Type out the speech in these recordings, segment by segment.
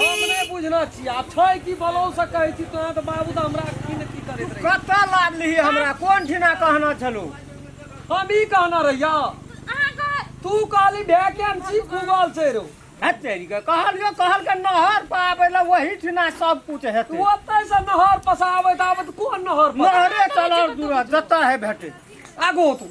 हम नहि बुझने छी आब छै कि बोलौ से कहै छी तोरा तऽ बाबू तऽ हमरा की ने की करैत रही कतऽ लादली हमरा कोन ठिना कहना छलू हम ई कहना रहिया तू कहली वैकेंसी गूगल से रो हतेरी के कहलियो कहल के नहर पर आबै लए वही ठिना सब कुछ हेतै तू ओतै से नहर पसाबैत आबैत कोन नहर पर नहरे चलल दूरा जतऽ है भेटै आगो तू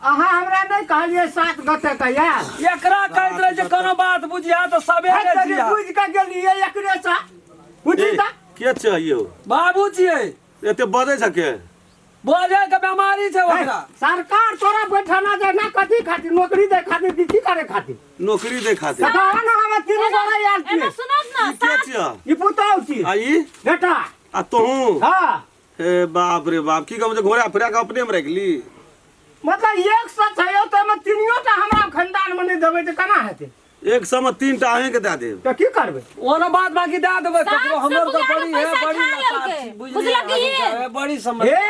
अहाँ हमरा नहि कहलियै सात गते के यार एकरा कहैत रहे जे कोनो बात बुझिया तऽ सबेरे हट तनी जिया बुझि के गेलियै एकरे सा बुझी ए, ता के छै यौ बाबू छियै एते बजै छै के बोझे के बेमारी छै ओकरा सरकार तोरा बैठना दे ना कथी खातिर नौकरी दे खातिर कि की करे खातिर नौकरी दे खातिर तऽ कहऽ ने हमे तीन गोरा यार एने छियै सुनत ने ई के छियै ई पुतौह छी आ ई बेटा आ तोहूँ हाँ हे बाप रे बाप की कहू जे घोड़ा फिरा के अपने में रखली मतलब एक सौ छै हो तो में तीनियो टा हमरा खानदान में नहीं देबे तो केना हेतै एक सौ में तीन टा अहीं के दे देब तो की करबै ओना बात बाकी दे देबै साहब ककरो से हमर तो बुझा बड़ी के है पैसा बड़ी खा लसार लेलकै। छी बुझलियै बुझलखिन? अभी तऽ है बड़ी समझ हे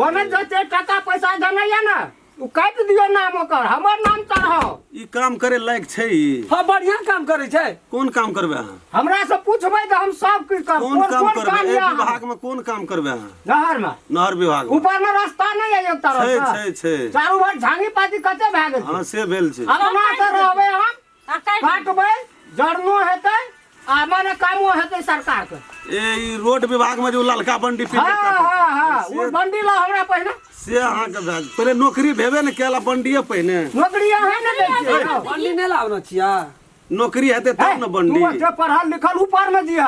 ओने जते टाका पैसा देने या ना ओ काटि दियो नाम ओकर हमर नाम चढ़ाओ ई काम करे लायक छै ई हाँ बढ़िया काम करे छै कोन काम करबे अहाँ हमरा से पूछबै तऽ हम सब कुछ करब कोन काम कोन करबे काम एहि यऽ विभाग में कोन काम करबे अहाँ नहर मे नहर विभाग में ऊपर मे रास्ता नहि यऽ एक छै तरफ छै छै चारू भर झांगी पाती कते भए गेल छै हाँ से भेल छै अपना से रहबै हम आ काटि दियौ। काटबै जड़नो हेतै आ मने कामो हेतै सरकारके ए ई रोड विभाग में जो ललका बंडी फिट हँ करता था, हँ हँ ओ से- बंडी ला हमरा पहिने से अहाँ के भेल पहले नौकरी भेबे ने केला बंडिये पहिने नौकरी अहाँ ने दै छियै यौ। बंडी नहीं लावना छिया नौकरी हेते तब ने तू बंडी ओते पढ़ल लिखल ऊपर में जिया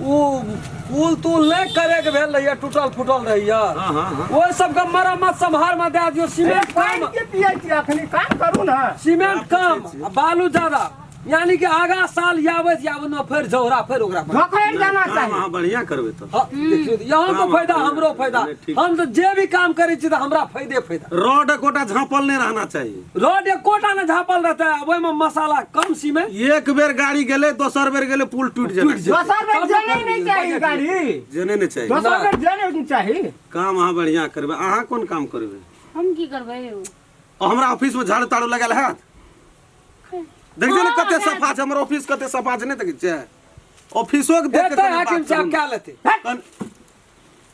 ओ पुल तुल नहि करैके भेल रहैया टूटल फूटल रहैया हाँ, हाँ, हाँ। ओहि सबके मरम्मत सम्हार मे दए दियौ सीमेंट पानि कम के पियै छी अखनी काम करू ने सीमेंट कम आ बालू ज्यादा यानी कि आगा साल याबैत याबैत ने फेर झौरा फेर ओकरा पर। धोखैर देना काम चाही अहाँ बढ़िया करबै तऽ हाँ, देखियौ तऽ यहाँ तो फायदा हमरो फायदा हम तो जे भी काम करै छी तऽ हमरा फायदे फायदा रॉड एकोटा झाँपल नहि रहना चाही रोड एकोटा ने झापल रहते अब ओहिमे मसाला कम सी में एक बेर गाड़ी गेले दोसर बेर गेले पुल टूट जाए दोसर बेर जाने नहीं चाहिए गाड़ी जाने नहीं चाहिए दोसर बेर जाने नहीं चाहिए काम अहाँ बढ़िया करबे अहाँ कोन काम करबे हम की करबे हमरा ऑफिस में झाड़ू ताड़ू लगल है देख जे कते सफा छै हमर ऑफिस कते सफा छै नहीं देख जे ऑफिसो के देख के हाकिम साहब क्या लेते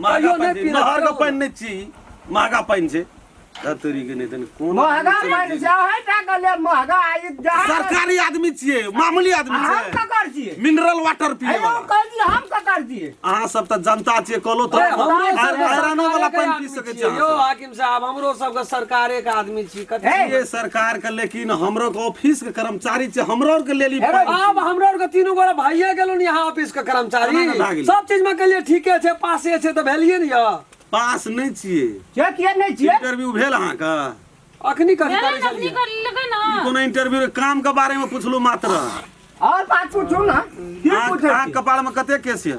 महगा पानि छै महगा पानि नहि छी महगा पानि छै तोरी के नहि कोन महगा पानि छै है टाका ले महगा आइ सरकारी आदमी छियै मामूली आदमी छियै हम ककर छियै मिनरल वाटर पिए हम कह दिए हम ककर छियै अहाँ सब त जनता छियै कहलो त आयरन वाला पानि पी सकै छियै साहब हमरो सबके सरकारे के आदमी छी कथी ये सरकार के लेकिन हमरो के ऑफिस के कर्मचारी छै हमरो आर के लेली हेरे बाप हमरा आर के तीनू गोरा भाइये गेलो ने यहाँ ऑफिस के केना ने भए कर्मचारी गेलै? सब चीज में कहलिए ठीके छै पासे छै तऽ भेलिए ने यऽ पास नहीं छिए जे किए नहि छिए इंटरव्यू भेल अहाँ के अखनी कथी भेलै करै ने अपनी छलिए कर लेबै ई ना कोनो इंटरव्यू के काम के बारे में पूछलू मात्र आओर बात पूछू ने की अहाँ पूछै अहाँ छी कपार में कते केस ये